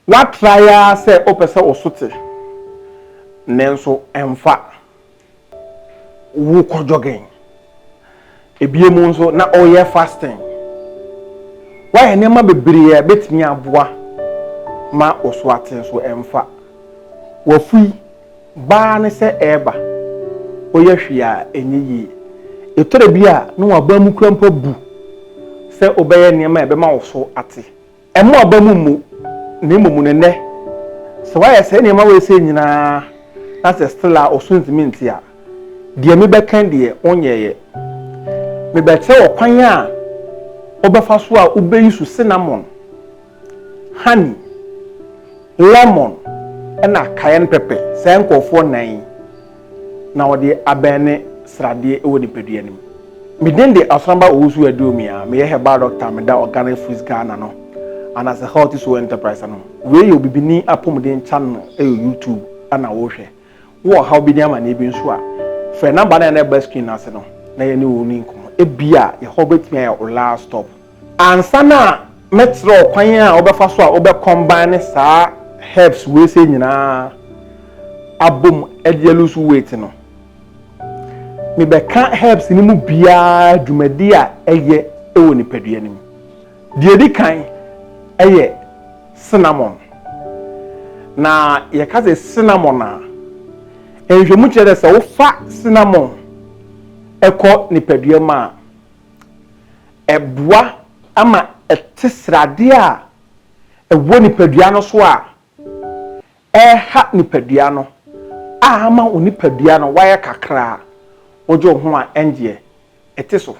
Woatrae ara sɛ wopɛ sɛ wo so te, nanso ɛmfa. Wokɔ jogging. Ebiem nso, na woreyɛ fasting. Woayɛ nneɛma bebree a ebetumi aboa ma wo so ate, nso ɛmfa. W'afui ba ara ne sɛ ɛreba. Woyɛ hwee a, ɛnyɛ yie. Ɛtɔ da bi a, na w'abam kura mpo abu sɛ wobɛyɛ nneɛma a ɛbɛma wo so ate. Ɛmo aba mu mmu, na mmom no nnɛ, sɛ wayɛ saa nneɛma wei sei nyinaa na sɛ still a ɔso ntumi nte a, deɛ mebɛka deɛ wonyɛeɛ. Mebɛkyerɛ wo kwan a wobɛfa so a wobɛyi so cinnamon, honey, lemon ɛna cayenne pepper, saa nkurɔfoɔ nnan yi. na wɔde abɛn ne sradeɛ wɔ nipadua no mu. Me din de Asramba Owusu Aduomia, meyɛ herbal doctor a meda Organic Fruits Ghana no anaasɛ Healthy Soul Enterprise ano. Wei yɛ obibini apɔmuden channel ɛyɛ YouTube ɛna wohwɛ. Wowɔ ɔhaw bi ne amaneɛ bi nso a, frɛ number no a na ɛba screen no ase no na yɛne wo ni nkɔmmɔ. Ebia yɛhɔ bɛtumi ayɛ wo last stop. Ansa na mɛkyerɛ wo kwan a wobɛfa so a wobɛ combine saa herbs wei sei nyinaa abom de alose weight no, mebɛka herbs no mu biara dwumadi a ɛyɛ wɔ nipadua no mu. Deɛ ɛdi kan yɛ cinnamon. Na yɛka sɛ cinnamon a, nhwɛmu kyerɛ dɛ sɛ wofa cinnamon kɔ nipadua mu a, Ɛboa ma ɛte sradeɛ a ɛwɔ nipadua no so a ɛreha nipadua no a ama wo nipadua no wayɛ kakraa. Wogye wo ho a ɛngyeɛ, ɛte so.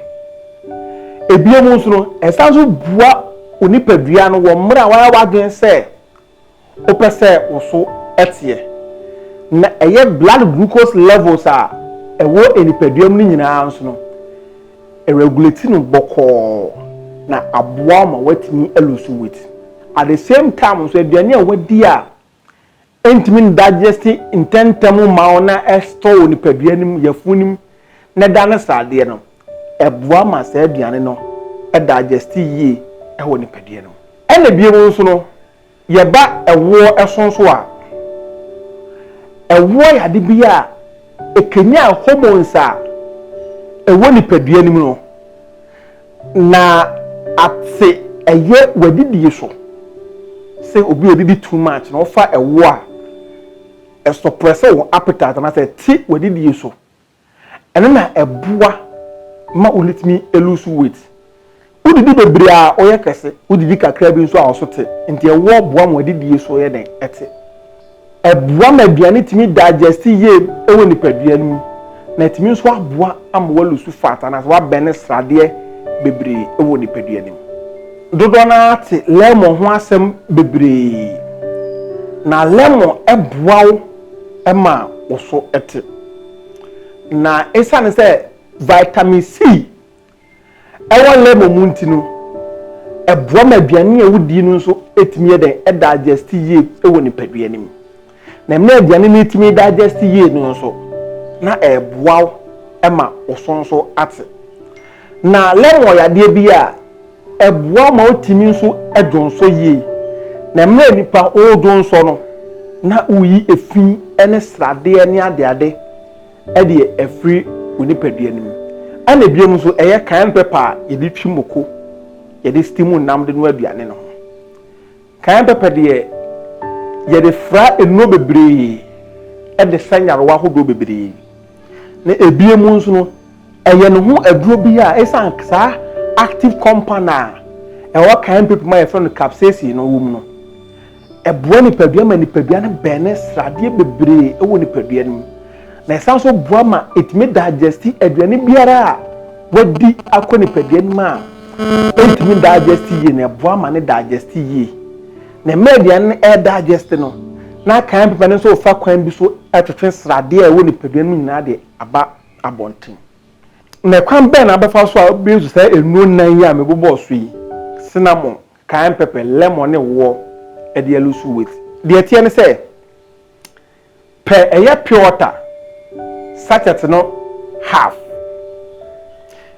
Ebio mu nso no, ɛsan nso boa wo nipadua no wɔ mmerɛ a wayɛ w'adwene sɛ Wopɛ sɛ wo so teɛ na ɛyɛ blood glucose levels a ɛwɔ nipadua mu no nyinaa nso no, ɛregulate no bɔkɔɔ na aboa wo ma woatumi alose weight. At the same time nso, aduane a woadi a ɛntumi ndigest ntɛmntɛm mma wo na ɛstɔɔ wɔ nipadua no mu, yafunu no mu, na ɛda no sradeɛ no, ɛboa ma saa aduane no dagyɛste yie wɔ nipadua no mu. Ɛna biom nso no, yɛba ɛwoɔ so nso a, ɛwoɔ yɛ ade bi a ɛkanyan hormones a ɛwɔ nipadua no mu no, na ate ɛyɛ w'adidie so. Sɛ obi ɔdidi too much na ɔfa ɛwoɔ a, ɛsɔprɛsɛ wo appetite anaasɛ ɛte w'adidie so. Ɛno na ɛboa ma wotumi lose weight. Wodidi bebree a, woyɛ kɛse. Wodidi kakra bi nso a, wo so te. Nti ɛwɔ boa ma w'adidie so yɛ dɛn? Ɛte. Ɛboa ma aduane tumi digest yie wɔ nipadua no mu, na ɛtumi nso aboa ama woalusu fat anaasɛ woabɛne sradeɛ bebree wɔ nipadua no mu. Dodoɔ no ara te lemon ho asɛm bebree, na lemon boa wo ma wo so te. Na esiane sɛ vitamin C wɔ lemon mu nti no, ɛboa ma aduane a wodi no nso tumi yɛ dɛn? Ɛdigest yie wɔ nipadua no mu. Na mmerɛ aduane no tumi digest yie no nso, na ɛboa wo ma wo so nso ate. Na lɛm wɔ yadeɛ bi a ɛboa ma wotumi nso dwonsɔ yie. Na mmerɛ a nipa ɔredwonsɔ no, na woyi efi ne sradeɛ ne adeade de afiri wo nipadua no mu. Ɛna ebinom nso ɛyɛ cayenne pepper a yɛde twi moko, yɛde steam nam de noa aduane no ho. Kan pɛpɛ deɛ, yɛde fra nnuro bebree de sa nyarewa ahodoɔ bebree. Na ebinom nso no, ɛyɛ ne ho aduro bi a esiane saa active compound a ɛwɔ kan pɛpɛ mu a yɛfrɛ no capsaicin no wom no, ɛboa nipadua ma nipadua no bɛne sradeɛ bebree wɔ nipadua no mu. na ɛsan nso boa ma ɛtumi digesti aduane biara a wadi akɔ nipadua no mu a ɛntumi digesti yie na ɛboa ma ne digesti yie na mmerɛ aduane no ɛredigesti no na kan pepa no nso fa kwan bi so ɛtwetwe sradeɛ a ɛwɔ nipadua no mu nyinaa de aba abɔnten na ɛkwan bɛn na abɛfa so a bɛyɛ sɛ nnuro nnan yi a mebobɔɔ so yi cinnamon, cayenne pepper, lemon ne woɔ ɛde alusu with deɛ ɛteɛ ne sɛ Pɛ ɛyɛ pure water sachet no half.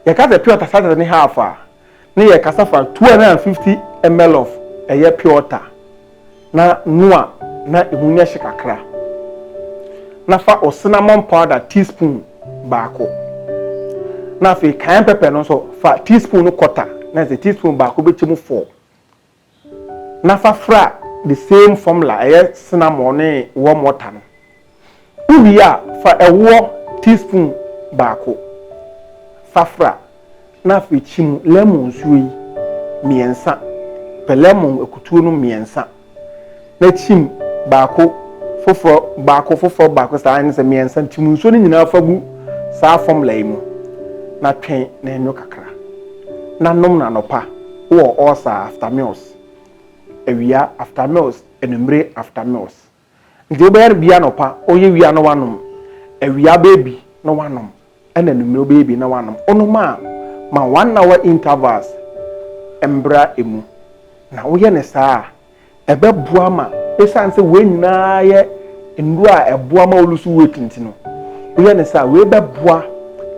Yɛka sɛ pure water sachet ne half a, ne yɛkasa fa 250 ml of ɛyɛ pure water na noa na ehu no ɛhye kakra. Na fa o cinnamon powder teaspoon baako. Na afei cayenne pepper no nso fa teaspoon no quarter na ɛsɛ teaspoon baako bɛkyɛ mu four. na fa fra the same formula ɛyɛ cinnamon ne warm water no. Wowie a, fa ɛwoɔ teaspoon baako fa fra na afei kyi mu lemon nsuo yi mmiɛnsa. Pɛ lemon akutuo no mmiɛnsa Na kyim baako foforɔ baako foforɔ baako saa ne sɛ mmiɛnsa kyim nsuo no nyinaa fa gu saa fɔmla yi mu na twɛn na ɛnwo kakra na nom no anɔpa wowɔ ɔɔsa after meals awia after meals anwummere after meals nti wobɛyɛ no bia anɔpa ɔyɛ wia na wanom awia bɛɛbi na wanom Ɛna anwummere ɔbɛyɛ abien na wanom. Wonom a, ma one hour intervals mbra emu. Na woyɛ no saa a, ɛbɛboa ma esiane sɛ wei nyinaa yɛ nnuro a ɛboa ma wo lose weight nti no, woyɛ no saa a, wei bɛboa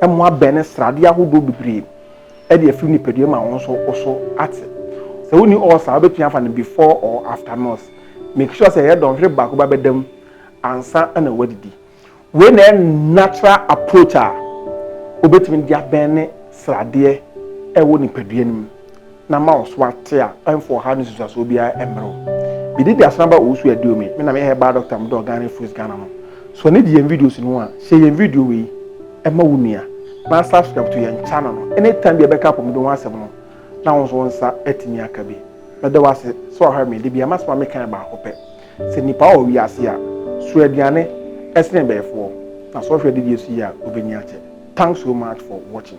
ma woabɛne sradeɛ ahodoɔ bebree de afiri nipadua mu a wo nso wo so ate. Sɛ wonni ulcer a, wobɛtumi afa no before or after meals. Make sure sɛ ɛyɛ dɔnhwere baako ba bɛda mu ansa na woadidi. Wei na ɛyɛ natural approach a obetumi de abɛn ne sradeɛ a ɛwɔ nipadua no mu na ama wo so ate a ɛmfa ɔhaw ne nsusuasoɔ biara mmrɛ wo. Mede di Asenaba Owusu Aduome, me na meyɛ Herbal Doctor mo dɔ Ghana Fruits Ghana no. Sɔ ne di yɛn videos no ho a, share yɛn video wei ma wo nua na subscribe to yɛn channel no. Anytime bi a yɛbɛka apɔmuden ho asɛm no na wo nso wo nsa atumi aka bi. Meda wo ase sɛ wahwɛ me, da biara masoma me kan baako pɛ. Sɛ nnipa wɔ wiase a, so aduane ɛsene bɛɛfoɔ? Na sɛ ɔhwɛ adidie so yie a ɔbɛnya kyɛ? Thanks so much for watching.